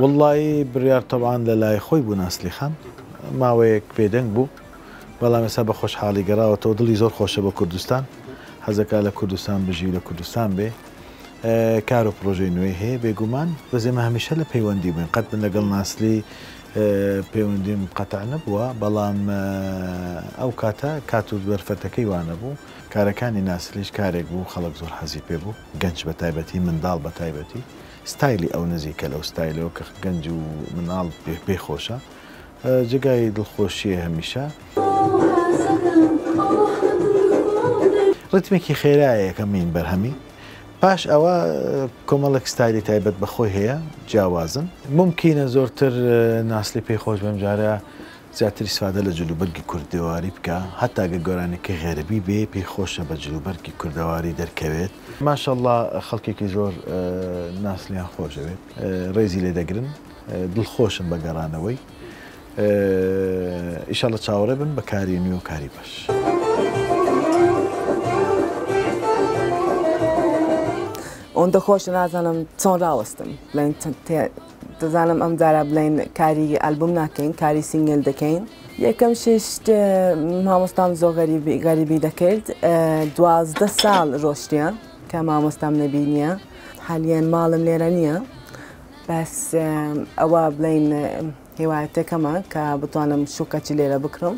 وەڵڵایی بڕیار تەبعان لە لای خۆی بوو ناسلی خان ماوەیەک بێدەنگ بوو بەڵام ئێستا بە خۆشحاڵی گەڕاوەتەوە دڵی زۆر خۆشە بە کوردستان حەزەکە لە کوردستان بژی و لە کوردستان بێ کار و پرۆژەی نوێی هەیە بێگومان بەزێمە هەمیشە لە پەیوەندی بووین قەت من لەگەڵ ناسلی پەیوەندیم قەتع نەبووە، بەڵام ئەو کاتە کات و دەرفەتەکەی وا نەبوو. کارەکانی ناسریش کارێک بوو خەڵک زۆر حەزی پێ بوو، گەنج بە تایبەتی، منداڵ بە تایبەتی. ستایلی ئەو نزیکە لەو ستایلەوە کە گەنج و منداڵ پێی خۆشە. جێگای دڵخۆشییە هەمیشە. ڕیتمێکی خێرایە یەکەمین بەرهەمی. پاش ئەوە کۆمەڵێک ستایلی تایبەت بە خۆی هەیە جیاوازن. مومکینە زۆرتر ناسلی پێی خۆش بێم جارێ زیاتر ئیسفادە لە جلوبەرگی کوردەواری بکا هەتا گە گۆرانیەکەی غەربی بێ پێی خۆشە بە جلوبەرگی کوردەواری دەرکەوێت. ماشااللە خەڵکێکی زۆر ناسلیان خۆش دەوێت ڕێزی لێ دەگرن دڵخۆشم بە گەڕانەوەی. ئیشەڵە چاوەڕێ بن بە کاری نوێ و کاری باش. ئەوەندە خۆشە نازانم چۆن ڕاوەستم بڵێن دەزانم ئەم جارە بڵێن کاری ئەلبوم ناکەین کاری سینگل دەکەین یەکەم شێشت مامۆستام زۆ غەریبی غەریبی دەکرد دوازدە ساڵ ڕۆشتە کە مامۆستام نەبینە حالیان ماڵم لێرە نییە بەس ئەوە بڵێن هێوایەتەکەمە کە بتوانم شوکەچی لێرە بکڕم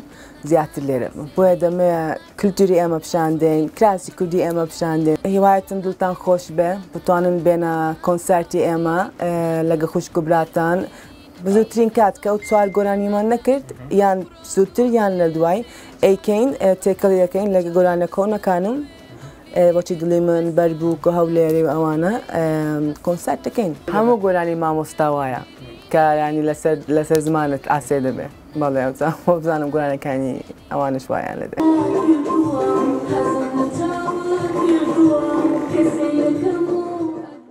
زیاتر لێرە بۆیە دەمێ کلتوری ئێمە پیشاندەین کراسی کوردی ئێمە پیشاندێن هیوایەتم دڵتان خۆش بێ بتوانن بێنە کۆنسارتی ئێمە لەگە خوشک و براتان بزوترین کات کە ئەو چوار گۆرانیمان نەکرد یان سووتر یان لە دوای ئەیکەین تێکەڵی دەکەین لەگە گۆرانە کۆنەکانم بۆچی دڵی من بەرد بوو کۆ هەولێری و ئەوانە کۆنسات دەکەین هەموو گۆرانی مامۆستا وایە کە ینی لەسەر لەسەر زمانت ئاسێ دەبێ بەڵێ ئەوزان خۆ بزانم گۆرانەکانی ئەوانش وایان لەدێ.